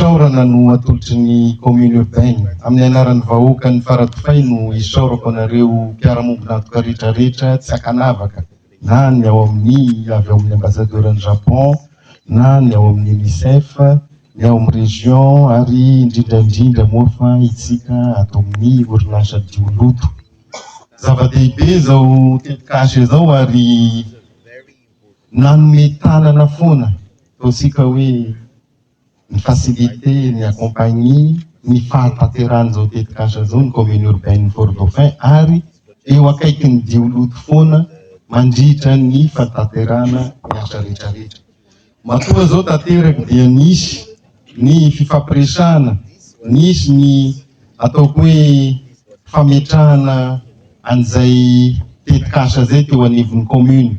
Fisaorana no atolotry ny Commune Urbaine. Amin'ny anaran'ny vahoakan'ny Faradofay no isaorako anareo mpiara-mombon'antoka rehetra rehetra tsy ankanavaka na ny ao amin'ny avy ao amin'ny Ambasadaoran'i Japon na ny ao amin'ny UNICEF, ny ao amin'ny Région ary indrindra indrindra moa fa itsika ato amin'ny orinasa Dioloto. Zava-dehibe izao tetikasa izao ary nanome tanana foana, ataontsika hoe, Mi-faciliter et mi-accompagner ny fahatanterahan'izao tetikasa izao ny Commune Urbaine Fort-Dauphin ary eo akaikin'ny jioloty foana mandritra ny fanatanterahana ny asa rehetrarehetra. Matoa izao tanteraka dia nisy ny fifampiresahana, nisy ny ataoko hoe fametrahana an'izay tetikasa izay teo anivon'ny Commune.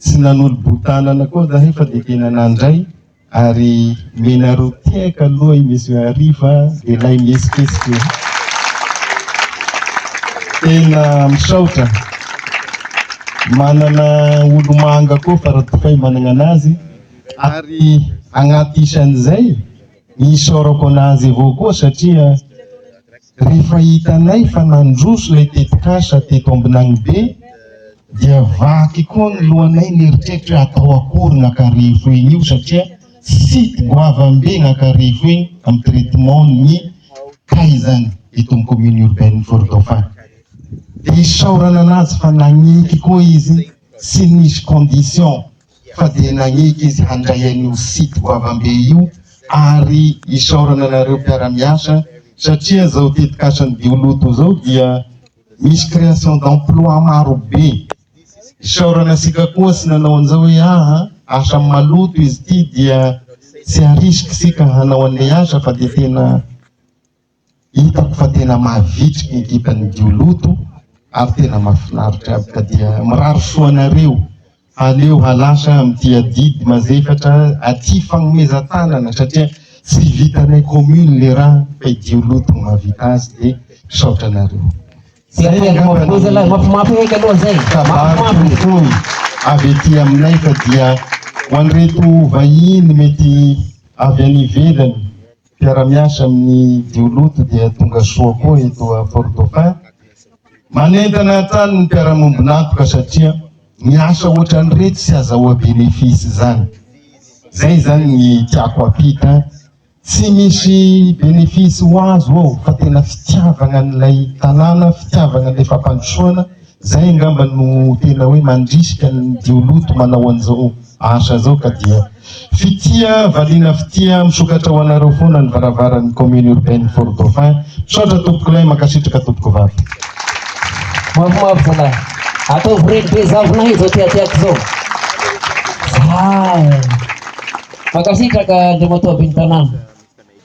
Tsy nanolo-boho-tanana koa zahay fa dia tena nandray ary menareo tehaka aloha i Monsieur Hariva lehilahy mihetsiketsiky e! Tena misaotra. Manana olomanga koa fa Ratokay managna anazy ary agnaty isan'izay isaorako anazy avao koa satria Rehefa hitanay fa nandroso ilay tetikasa teto Ambinanibe dia vaky koa ny lohanay nieritreritra hoe atao akory iny Ankarefo iny io satria site goavambe iny Ankarefo iny amin'ny traitement ny kaizany eto amin'ny commune urbaine Forodoafara. Dia isaorana an'azy fa naniky koa izy tsy nisy condition. fa dia nanaiky izy handray an'io site goavambe io ary isaorana anareo mpiara-miasa satria izao tetikasan'ny Dioloto izao dia misy création d'emploi marobe. Isaorana antsika koa sy nanao an'izao hoe aha, asa maloto izy ity dia tsy harisika isika hanao an'ilay asa fa dia tena Hitako fa tena mavitrika ny ekipan'ny Dioloto ary tena mahafinaritra aby ka dia mirary soa anareo aleo halasa amin'ity adidy mazefatra aty fagnomezan-tanana satria tsy vitanay commune le raha fa i Dioloto no mahavita azy dia misaotra anareo. Zay angambany zalahy mafimafy eky aloha zay. Kabary fohifohy avy aty aminay fa dia ho an'ireto vahiny mety avy any ivelany. Mpiara-miasa amin'ny Dioloto dia tonga soa koa eto à Fort-Dauphin. Manentana hatrany ny mpiara-miombon'antoka satria ny asa ohatran'ireto tsy azahoa bénéfice izany. Izay izany ny tiako hampita, tsy misy bénéfice ho azo ao fa tena fitiavana an'ilay tanàna, fitiavana an'ilay fampandrosoana. Zay angamba no tena hoe mandrisika ny jioloty manao an'izao asa zao ka dia Fitia valiana fitia misokatra ho anareo foana ny varavaran'ny commune urbaine Fort Dauphin misaotra tompokolahy mankasitraka tompokovavy. Mafimafy zalahy. Ataovy reny be zavona izao teateako izao. Zay. Mankasitraka Andriamatoa Ben'ny tanàna.